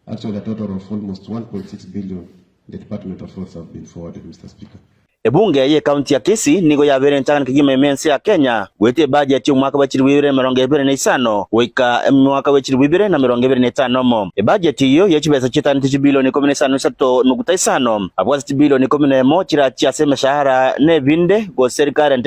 Actually a total of almost 1.6 billion in the Department of Roads have been forwarded, Mister Speaker. Ebunge ye county ya Kisii nigo yabeire enchagani kegima ime ense ya Kenya goeta ebudget y'omwaka bwa chilifu ibere na emerongo ebere na isano goika mwaka bwa chilifu ibere na emerongo ebere na etano mo. Ebudget eyio ye chibesa chietaanete chibilioni ikomi na isano na isato nuguta isano, abwo ase chibilioni ikomi na emo chirachie ase emeshahara na ebinde gose recurrent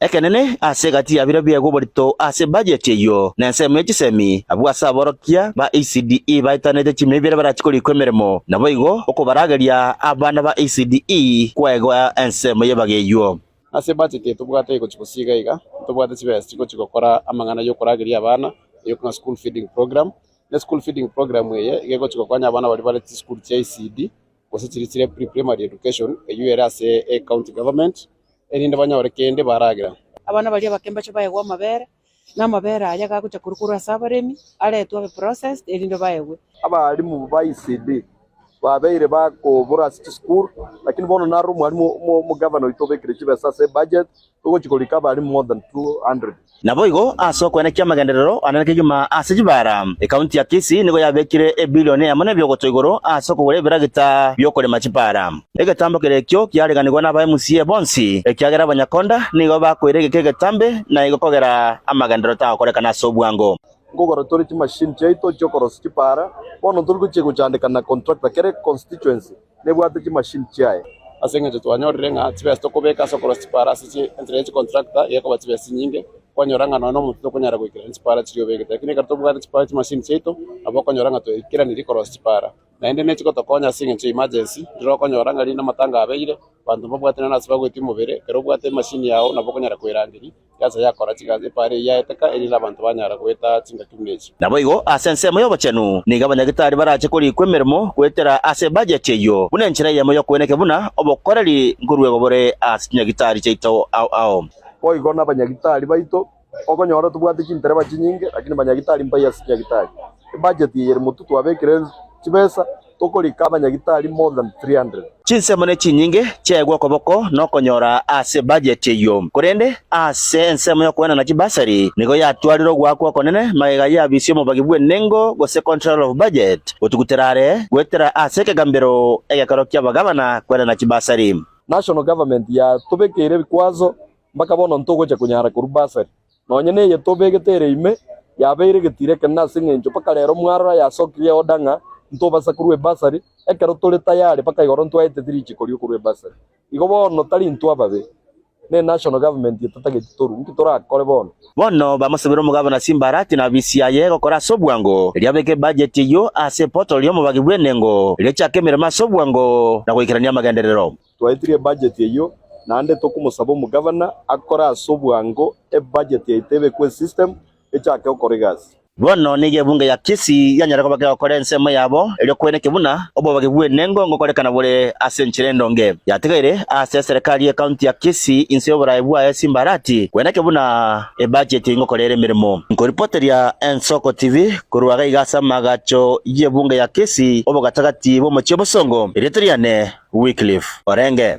Ekenene, ase egati ya bire biegwa oborito ase bajeti eyio nensemo ye chisemi, abwo ase aborokia ba ECDE baetanete chimei bire barachi korikwa emeremo, naboigo okobarageria abana ba ECDE kwegwa ensemo y'ebaga eyio. Ase bajeti eye tobwate egochi gose iga iga, ntobwate chibesa chigochi gokora amang'ana y'okorageria abana, eyio buna school feeding program. Ne school feeding program eye iga egochi gokonya abana baria bare chisukuru chia ECD, gose chiria chire pre-primary education eyio ere ase ecounty government, erinde banyore kende baragira. Abana baria abake mbache baegwe amabere, na amabere aya gagocha korwa korwa ase abaremi, aretwe abe processed erinde baegwe. Abalimu ba ECD babeire bakobura ase chisukuru, lakini bono naro omwalimu omogavana oito obekire chibesa ase ebudget Togochia korika abarimu more than 200. Naboigo ase okoenekia amagenderero ane na kegima ase chibaara, Ekaunti ya Kisii nigo yabekire ebilioni eyemo nebiogoto igoro ase okogora ebiragita biokorema chibaara. Egetambo kere ekio kiareganigwa naba MCA bonsi, ekiagera abanyakonda nigo bakoira egeka egetambe na igo kogera amagenderero tagokorekana ase obwango. Nkogora tore chimashini chiaito chi'okorosia chibaara, bono ntori gochia gochandeka na contractor kere constituency. nebwate chimashini chiaye. Ase engencho twanyorire ng'a chibesa tokobeka ase okorwa chipara ase enchera ye chikontrakta iga ekoba chibesa chinyinge, kwanyora ng'a nonya nomonto tokonyara goikerania chipara chiria obegete. Lakini ekero tobwate chipara chimashini chiaito, nabo okonyora ng'a twaikeranirie korosia chipara. Naende ne chigotokonya ase engencho ya emergency, riria okonyora ng'a rinde amatanga abeire, banto mbabwatire nase bagoetia omobere, ekero obwate emashini yao nabo okonyara koerangeria. Ense yakora chigasi, epaari eyio yaeteka, erinde abanto banyare goeta chingaki buna echi. Naboigo ase ensemo y'obochenu nigo abanyagitari barache korikwa emeremo goetera ase ebajeti eyio, buna enchera eyemo y'okoeneka buna obokoreri nkoruegwa bore ase chinyagitari chiaito ao ao. Boigo nabanyagitari baito, okonyora tobwate chintereba chinyinge, lakini banyagitari mbayi ase chinyagitari. Ebajeti eye ere motutu abekire chibesa, Tokorika abanyagitari more than 300. Chinsemo ne chinyinge chiaigwa okoboko nokonyora ase budget eyio, korende ase ensemo y'okwenana chibasari nigo yatwarire ogoakwa okonene magega y'abisia omobagi bw'enengo gose controller of budget gotugutera are goetera ase ekegambero egekero ki'abagabana kwenana chibasari. National government yatobekeire ebikwazo mpaka bono ntogocha konyara korwa basari. nonya neye tobegete ere ime, yabeire getiira ekenene nase engencho mpaka rero mwarora yasokirie oda ng'a ntobasa korua ebasari, ekero tore tayari mpaka igoro ntwaeteti richiko rio korua ebasari. Igo bono tari intwe ababe, ne National Government ye tatageti torue. Inki torakore bono? Bono bamosabire omogabana chimbarati na bisi aye egokora ase obwango, erio abeke ebudget eyio ase eportal y'omobagi bw'enengo, erio ochake emeremo ase obwango na goikerania amagenderero. Twaetirie ebudget eyio naende tokomosaba omogavana akore ase obwango ebudget yaito ebe kwe system echake okora egasi. Bono nigo ebunge ya Kisii yanyara koba kegokora ensemo yabo erio kwene ki buna obobogi bw'enengo ngokorekana bore ase enchera endonge yatigaire ase eserekari ye county ya Kisii inse y'oborae bwaye simbarati kwene ki buna Ebacheti ngokora ere emeremo. Nkoripoteria Ensoko TV korwa iga iga ase amagacho y'ebunga ya Kisii, obogatagati bw'omochie bosongo. Erieta riane Wycliffe Orenge.